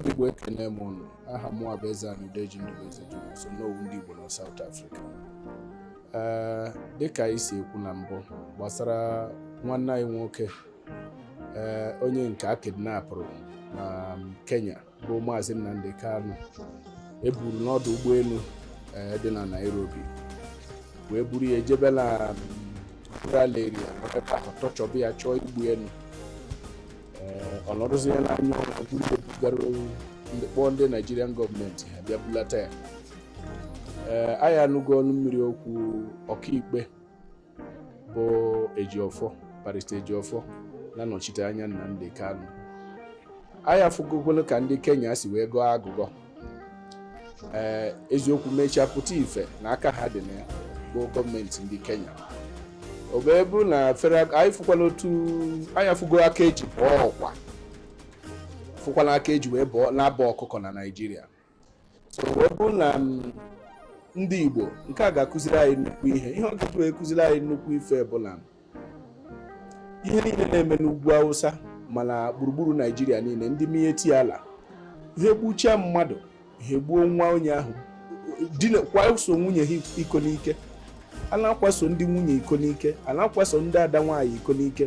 ndị Igbo ekene m ụnụ aha m bụ Ezeana Udeji Ndubueze Jonas Onowu ndị Igbo na South Africa ee dịka anyị si ekwu na mbụ gbasara nwanne anyị nwoke ee onye nke a kidnapụrụ na Kenya bụ Maazị Nnamdi Kanu eburu n'ọdụ ụgbọelu eh, dị na Nairobi wee buru ya jebe na rural area ebe ahụ tọchọba ya chọọ igbu elu eh, ọ nọdụzie n'anya ọrụ buru ya bugara ndị kpọọ ndị Naịjirian gọọmenti ha bịa bulata ya ee eh, anyị anụgo ọnụ mmiri okwu ọkaikpe bụ Ejiọfọ barista Ejiọfọ na-anọchite anya Nnamdi Kanu anyị afụgokwalụ ka ndị Kenya si wee gọọ agụgọ ee eziokwu mechaa pụta ife na aka ha dị na ya bụ gọọmenti ndị Kenya o wee bụrụ na fere anyị fụkwala otu anyị afụgo aka eji bọọ ọkwa fụkwala aka eji wee bọọ na-abọ ọkụkọ na Naịjirịa so wee bụrụ na mm, ndị Igbo nke a ga-akụziri anyị nnukwu ihe ihe ọ ga-eji wee kụziri anyị nnukwu ife bụ na ihe niile na-eme n'ugwu Awụsa ma na gburugburu Naijiria niile ndị Miyetti Allah ha egbuchaa mmadụ ha egbuo nwa onye ahụ kwaso nwunye ha iko n'ike a na-akwaso ndị nwunye iko n'ike a na-akwaso ndị ada nwaanyị iko n'ike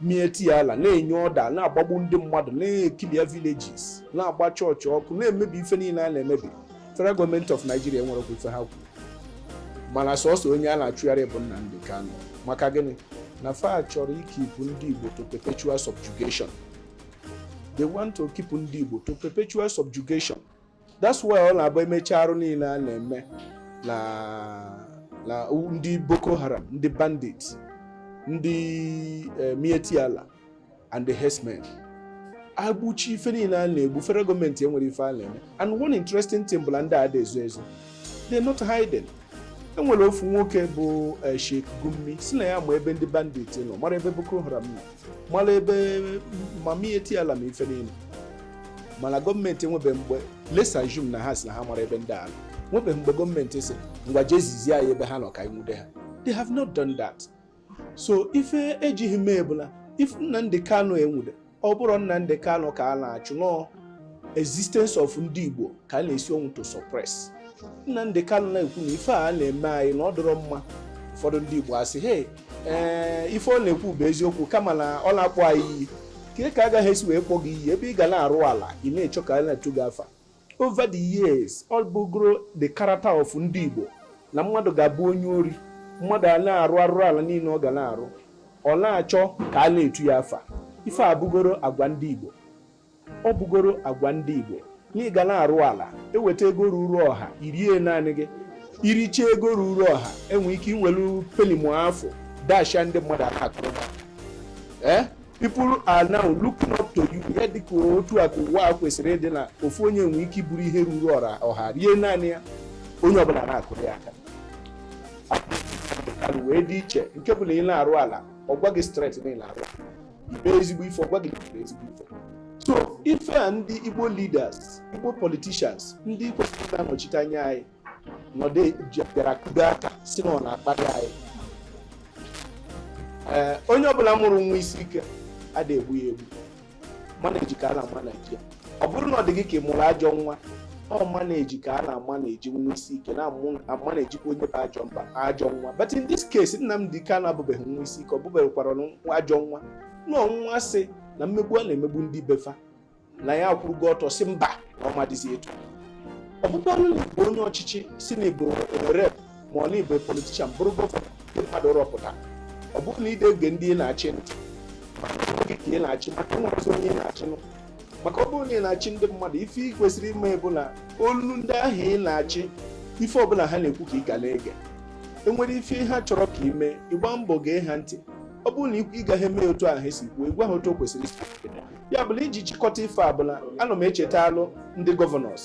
Miyetti Allah na-enye ọda na-agbagbu ndị mmadụ na-ekilịa villages na-agba chọọchị ọkụ na-emebi ife niile a na-emebi federal gọọmenti of Nigeria enwerọkwa ife ha kwuru mana sọsọ onye a na-achụgharị bụ Nnamdi Kanu maka gịnị na fa chọrọ ikipụ ndị Igbo to perpetual subjugation they want to keep ndị Igbo to perpetual subjugation that's why ọ na-abụ e mechaa arụ niile a na-eme na na ndị Boko Haram ndị bandit ndị eh, Miyetti Allah and the herdsmen egbuchaa ife niile a na-egbu federal gọọmenti enwerọ ife a na-eme and one interesting thing bụ na ndị a adị ezo ezo they're not hiding enwere ofu nwoke bụ eh, Sheikh Gumi si na ya ma ebe ndị bandit nọ mara ebe Boko Haram nọ mara ebe ma Miyetti Allah ma ife niile mana gọọmenti enwebe mgbe let's assume na ha si na ha mara ebe ndị a nọ enwebe mgbe gọọmenti si ngwa jee zizie anyị ebe ha nọ ka anyị nwude ha they have not done that so ife ejighị mee bụ na if Nnamdi Kanu enwude ọ bụrụ Nnamdi Kanu ka a na-achụ nọọ existence of ndị Igbo ka a na-esi ọnwụ to suppress Nnamdi Kanu na-ekwu na ife a na-eme anyị na ọ dịrọ mma ụfọdụ ndị Igbo asị hey ee ife ọ na-ekwu bụ eziokwu kama na ọ na-akpọ anyị iyi kee ka agaghị esi wee kpọ gị iyi ebe ị ga na-arụ ala ị na-echọ ka a na-etu gị afa over the years ọ bụgoro the character of ndị Igbo na mmadụ ga-abụ onye ori mmadụ a na-arụ arụrụ ala niile ọ ga na-arụ ọ na-achọ ka a na-etu ya afa ife a bụgoro agwa ndị Igbo Ọ bụgoro agwa ndị Igbo na ị ga na-arụ ala eweta ego ruru ọha irie naanị gị iricha ego ruru ọha i nwee ike iwelu pelim afọ dasha ndị mmadụ aka akụrụ ee eh? people are now looking up to you ya dịka otu a ka ụwa a kwesịrị ịdị na ofu onye nwee ike iburu ihe ruru ọha rie naanị ya onye ọbụla na-akụrụ ya aka wee dị iche nke bụ na ị na-arụ ala ọ gwa gị straight na ị na-arụ mee ezigbo ife ọ gwa gị mee ezigbo ife so ife a ndị igbo leaders igbo politicians ndị kwesịrị na-anọchite anya anyị nọdụ bịara kudo aka si na ọ na-akparị anyị ee onye ọbụla mụrụ nwa isi ike ada egbu ya egbu manage ka a na-amanage ya ọ bụrụ na ọ dị gị ka ị mụrụ ajọ nwa ọ manage ka a na-amanage nwa isi ike na-amanagekwa onye bụ ajọ mba ajọ nwa but in this case Nnamdi Kanu abụbeghị nwa isi ike ọ bụbeghịkwara ajọ nwa na ọ nwa sị na mmegbu a na-emegbu ndị befa na ya akwụrụgo ọtọ si mba na ọ ma-adịzi etu ọ bụkwanụ na ị bụ onye ọchịchị sị na ị bụ rep ma ọ na ị bụ politician bụrụ governor ndị mmadụ rọpụta ọ bụrụ na ị de ege ndị ị na-achị ntị gịnị ka ị na-achị maka nwerọzị onye ị na-achịnụ maka ọ bụrụ na ị na-achị ndị mmadụ ife ị kwesịrị ime bụ na olu ndị ahụ ị na-achị ife ọbụla ha na-ekwu ka ị ga na-ege enwere ife ha chọrọ ka ị mee ị gbaa mbọ gee ha ntị ọ bụrụ na ị gaghị eme otu ahụ esi kwuo ị gwa ha otu o kwesịrị isi ya bụ na iji chịkọta ife a bụ na ana m echetalụ ndị governors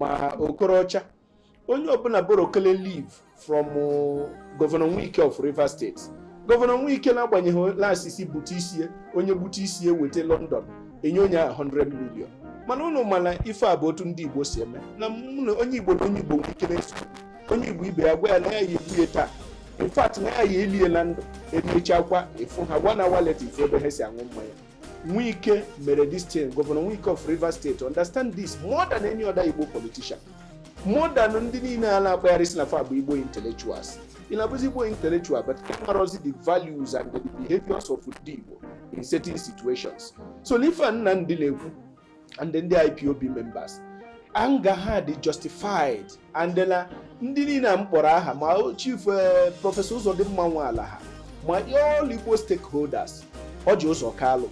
ma okorocha onye ọbụla borrowkele leaf from uh, governor wike of rivers state governor wike na-agbanyeghị na a sị sị gbute isie onye gbute isie weta london enye onye ahụ 100 million mana ụnụ ma na ife a bụ otu ndị igbo si eme na mụ na onye igbo na onye igbo nwe ike na-eso onye igbo ibe ya gwa ya na ya ya egbue taa in fact na ya ya elie na ndụ emechaakwa ị fụ ha gwa na walet ife ebe ha si aṅụ mmanya Wike mere this thing, Governor Wike of Rivers State, understand this more than any other Igbo politician. More than ndị niile a na-akpagharị si na fa bụ Igbo intellectuals. Ị na-abụzi Igbo intellectual but ị marọzi the values and the behaviors of ndị Igbo in certain situations. So n'ife a Nnamdi na-ekwu and ndị IPOB members anger ha dị justified and na ndị niile a m kpọrọ aha ma chief eh, prọfesọ Uzodimma Nwala ha ma all Igbo stakeholders Orji Uzor Kalu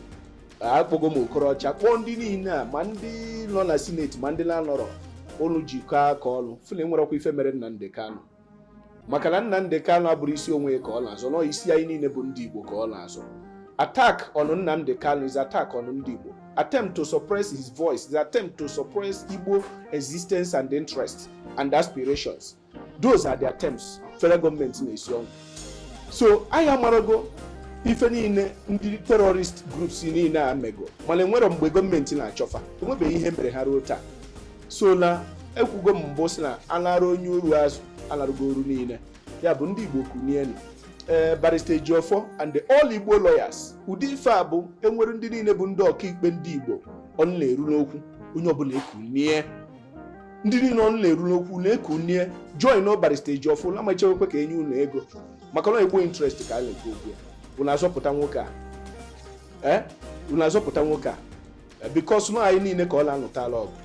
akpọgo m Okorocha kpọọ ndị niile a ma ndị nọ na sineti ma ndị na-anọrọ unu jikọọ aka ọnụ fụ na enwerọkwa ife mere Nnamdi Kanu maka na Nnamdi Kanu abụrọ isi onwe ka ọ na-azọ na ọ isi anyị niile bụ ndị Igbo ka ọ na-azọ attack on Nnamdi Kanu is attack on ndị Igbo attempt to suppress his voice is attempt to suppress Igbo existence and interests and aspirations those are the attempts federal gọọmenti na-esi ọnwụ so anyị amarago ife niile ndị terrorist groups niile a mego mana enwerọ mgbe gọọmenti na-achọ fa enwebeghị ihe mere ha ruo taa so na ekwugo m mbụ sị na anara onye oru azụ anarago oru niile ya bụ ndị igbo kunienụ ee barista ejiofọ and the all igbo lawyers ụdị ife a bụ enwere ndị niile bụ ndị ọkaikpe ndị igbo ọnụ na-eru n'okwu onye ọbụla ekunie ndị niile ọnụ na-eru n'okwu na-ekunie join o barista ejiofọ na amachewekwe ka enye unu ego maka na igbo interest ka a na-ekwu okwu ya unu azọpụta nwoke a ee unu azọpụta nwoke a because na anyị niile ka ọ na-anụtala ọgụ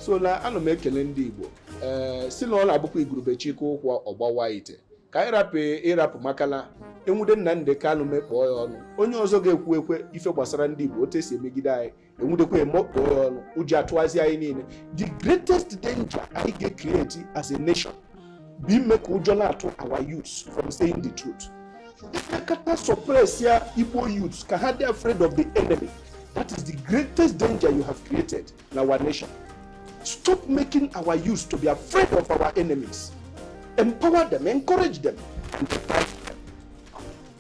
so na ana m ekele ndị Igbo ee sị na ọ na-abụkwa igurube chịkọọ ụkwụ ọ gbawaa ite ka anyị rapụ ịrapụ maka na enwude Nnamdi Kanu mekpọọ ya ọnụ onye ọzọ ga-ekwukwe ife gbasara ndị Igbo otu esi emegide anyị enwudekwa emekpọọ ya ọnụ ụjọ atụwazie anyị niile the greatest danger anyị ga-ecreate as a nation bụ ime ka ụjọ na-atụ our youths from saying the truth ịkakata suppressịa igbo youths ka ha dị afraid of the enemy that is the greatest danger you have created in our nation stop making our youths to be afraid of our enemies empower them encourage them and protect them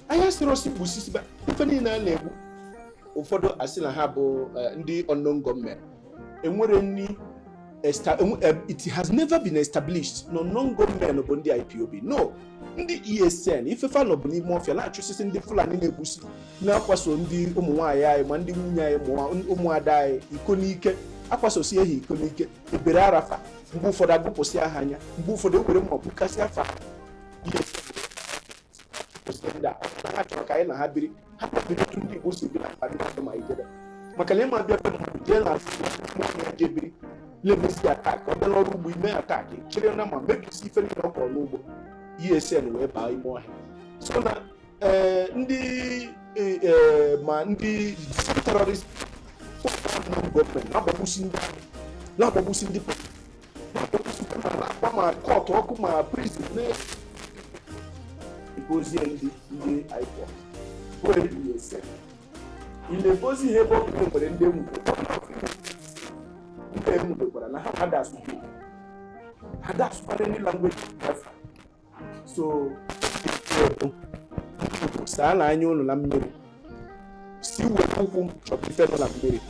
anyị asịrọ sị gbusisiba ife niile a na-egbu ụfọdụ asị na ha bụ eh, ndị unknown gunmen enwerọ any e, it has never been established na unknown gunmen bụ ndị IPOB no ndị ESN ife fa nọ bụ n'ime ọfịa na-achụsịsị ndị Fulani na-egbusi na-akwaso ndị ụmụ nwaanyị anyị ma ndị nwunye anyị ụmụada anyị iko n'ike akwasosie ha iko n'ike ebere ara fa mgbe ụfọdụ aghụpụsịa ha anya mgbe ụfọdụ ewere mma gbukasịa fa na ha chọrọ ka anyị na ha biri ha biri otu ndị Igbo si biri na ndị mmadụ ma ijebe maka na ị ma-abịa be mmadụ jee n'anị ya jee biri mebezie attack ọ bịa n'ọrụ ugbo i mee attack chịrị nama mebisie ife niile ọ kọrọ n'ugbo ESN wee baa ime ọhịa so na eh, ndị eh, eh, ma ndị terrorist gọọmenti na-agbagbusi ndị na-agbagbusi ndị akpa ma court ọkụ ma prison na-ebozie ndị ndị IPOB were ESN na-ebozi ihe ebe ọ bụla nwere ndị enwudo ndị enwudokwara na ha adasụ ha dasụkwara ndị language so saanụ anya unu na mmiri si were ụkwụ chọpụ ife nọ na mmiri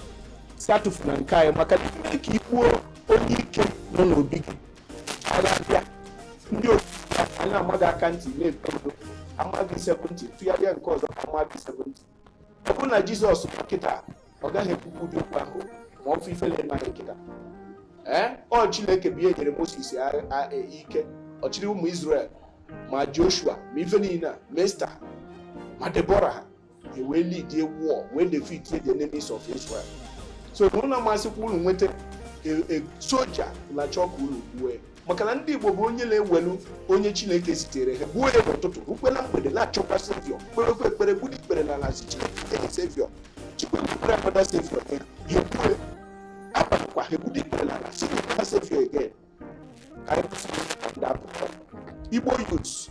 si atụfu na nke anyị maka ime ka ikpuo onye ike nọ n'obi gị agha bịa ndị otu a na-ama gị aka ntị na-eto ndo ama gị seventy tụgharịa nke ọzọ ama gị seventy ọ bụrụ na jizọs nọ kịta ọ gaghị ekwukwu ụdị okwu ahụ ma ọ fụ ife na-eme kịta ee ọ chineke bụ ya nyere moses e, ike ọ chịrị ụmụ israel ma joshua ma ife niile ma esther ma debora ha wee leadie war wee defeat the enemies of israel so na unu amasịkwa unu nweta e, e, soja na chọọ ka unu gbue maka na ndị igbo bụ onye na-ewelu onye chineke zitere ha gbuo ya n'ụtụtụ rukwe na mgbede na-achọkwa saviour kperekwa ekpere gburu ikpere na ala sị chineke nye saviour chukwu ekwukwere akpọta saviour ya ha egbue agbakwa ha egburu ikpere na ala sị na saviour again ka anyị kwụsị ndị akụkọ igbo youths